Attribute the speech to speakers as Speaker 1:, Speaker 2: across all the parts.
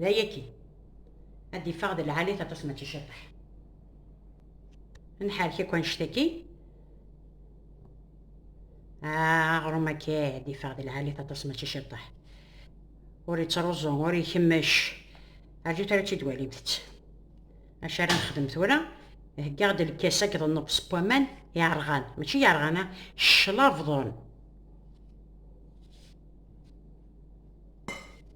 Speaker 1: D aya kan. Ad d-iffeɣ d lɛali-t aṭas mačči ciṭeḥ. Ad nḥerrek akk annect-a kan. Ah, aɣrum akka ad d-iffeɣ d lɛali-t aṭas mačči ciṭeḥ. Ur yettruẓu, ur ikemmec. Rjut ara tt-id-walimt-tt. Acu ara nexdem tura? Heggaɣ-d lkas akked nnebs n waman yerɣan, mačči yerɣan, ah, cclabeḍen.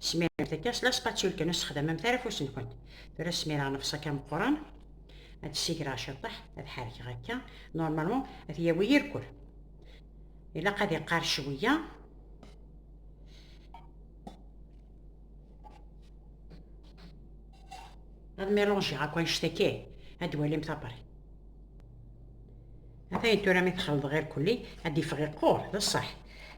Speaker 1: Smiremt akka s laspatulkan ur sexdamemt ara afus-nkent. Tura smireɣ nefṣak ameqqran, ad ssigireɣ ciṭṭaḥ, ad ḥerkeɣ akka, normalement ad yawi yirkul. Ilaq ad iqqar cwiya. Ad milanjiɣ akk anect-agi, ad walimt apari. Atay tura mi txelḍeɣ irkelli ad d-ifeɣ iqquṛ, d ṣṣeḥ.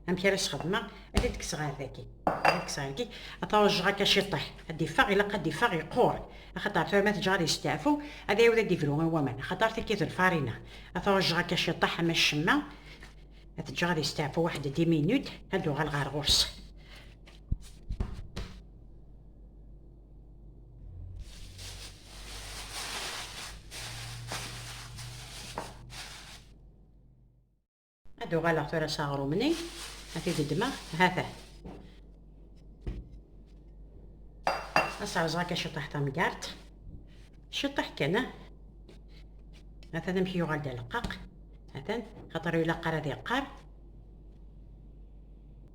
Speaker 1: Amek ara s-xedmeɣ? Ad d-kkseɣ ar dagi. Ad d-kkseɣ ar dagi, ad t-ṛejjeɣ akka ciṭṭaḥ. Ad d-ifeɣ, ilaq ad d-ifeɣ iqquṛ. Axaṭer tura ma t-ǧǧeɣ ad yesteɛfu, ad iɛiwed ad d-ibru i waman. Axaṭer tagi d lfariña. Ad t-ṛejjeɣ akka ciṭṭaḥ ama ccemma. Ad t-ǧǧeɣ ad yesteɛfu waḥed dix minutes, ad d-uɣaleɣ ar ɣur-s. ad uɣaleɣ tura s aɣrum-nni ad t-id-ddmeɣ ha-t-a ad serẓeɣ akka ciṭṭaḥ tamgart ciṭṭaḥ kan atan amek yuɣal-d aleqqaq atan xaṭer ilaq ara ad yeqqar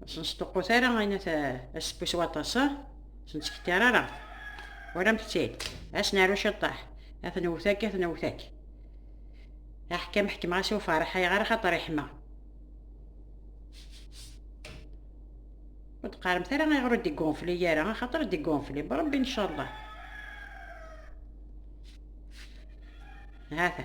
Speaker 1: Ur sen-sṭuqqut ara ayen at asebbu s waṭas, ur sen-ttkekkar ara. Walamt-tt-id, ad s-naru ciṭṭaḥ, ad ten-wwet akka, ad ten-wwet akka. Aḥkam ḥekmeɣ-as i uferreḥ, ayɣer axaṭer iḥma. Ur d-qqaremt ara ayɣer ur d-igunfli ara, axaṭer ur d-igunfli, bṛebbi incallah. هذا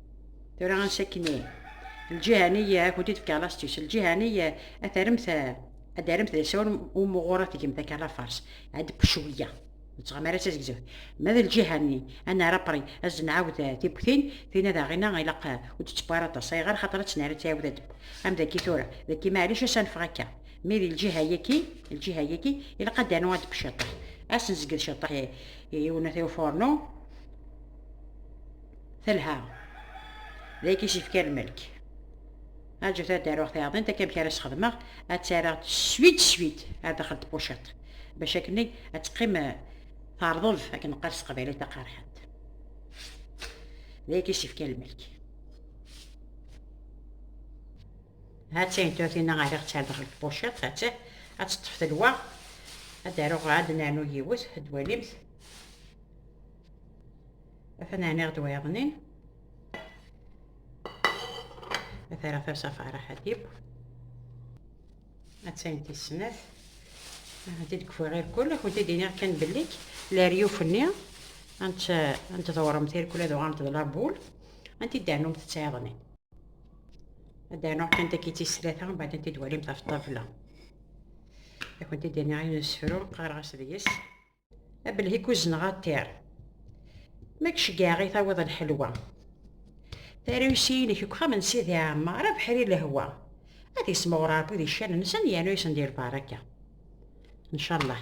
Speaker 1: Tura ansakni, lǧihani akk-d i tefka lastis, lǧihani ad taremt ad d-aremt d asawen umuɣur ad tgem takala fars, ad d-pecwiya. Nettɣam ara tazegzef. Ma d lǧiha-nni, ad nerr apri, ad d-nɛawed tiwwtin, tin ad aɣina ilaq ur d-tewwi ara aṭas, ayɣer xaṭer ad tt-nerr ad tɛiwed ad d-tewwi. Am dagi tura, dagi maɛlic ad s-anfeɣ akka. Mi d lǧiha-yaki, lǧiha-yaki, ilaq ad d-anu ad d-tewwi ciṭṭaḥ. Ad s-nezged ciṭṭaḥ i unatay ufurnu. Telha. D ay k-yefkan lmelk. Aǧut ad d-aruɣ tayaḍint akka amek ara s-xedmeɣ, ad tt-areɣ swit swit ar daxel n tpuciṭ, bac akken-nni ad teqqim eh, terḍeb akken neqqar s teqbaylit taqerḥant. D ay k-yefkan lmelk. Ha d tayin tuyatina ariɣ-tt ar daxel n tpuciṭ, ha d ad teṭṭef telwa, ad d-aruɣ ad d-nernu yiwet, ad d-walimt. Atan ɛniɣ-d wayeḍnin. Atara farsa fara ḥadib. Attan tis snat. Ati deg fuɣir kul, akun ti diniɣ kan bellik, la riyuf-nni, ant ant dɣuremt irkul ad uɣant d labul, ant i dɛnum tettɛiḍni. Ad dɛnuɣ kan taki tis tlata, mbaɛd ant i dwalimt ɣef ṭṭabla. Akun ti diniɣ ayen nesfru, qqareɣ-as deg-s. abelhik uzneɣ aṭir ma gceggeɛ i tawiḍ lḥelwa tarusi-inek deg uxxam n Sidi Ɛmer abeḥri lehwa ad ismeɣ Rebbi di ccan-nsen yernu yesen di lbaraka ncallah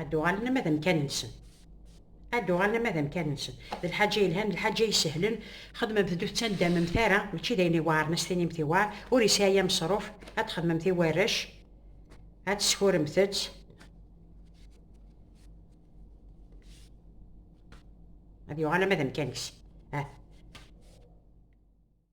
Speaker 1: ad d-uɣalen ama d amkan-nsen ad d-uɣalen ama d amkan-nsen d lḥaǧa yelhan d lḥaǧa isehlen xedmemt-d ur tettanddamemt ara mačči d ayen iweɛren as tinimt iweɛr ur yesɛi aya ameṣruf ad txedmemt i warrac ad teskuremt-tt ad yuɣal ama d amkan-is ah.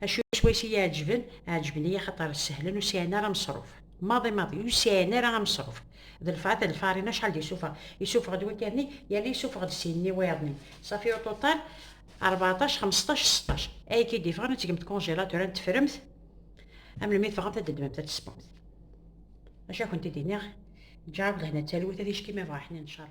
Speaker 1: Acu swayes i yi-ɛeǧben? Ɛeǧben-iyi axaṭer sehlen ur sɛin ara ameṣruf. Maḍi maḍi, ur sɛin ara ameṣruf. D lfeɛd d lfarina acḥal d-isuffeɣ. Isuffeɣ-d wakal-nni, yerna isuffeɣ-d sin n yiwayeḍ-nni. Safi uṭuṭal, rbeɛṭac, xmesṭac, seṭṭac. Ayagi i d-yeffɣen ad tgemt congélateur, ad teffremt, am melmi tebɣamt ad d-tedmemt, ad d-tesseṭṭumt. D acu ad kent-id-iniɣ, ǧǧeɣ-ak-d lehna d talwit, ad icki ma yebɣa ḥnin n cceṛ.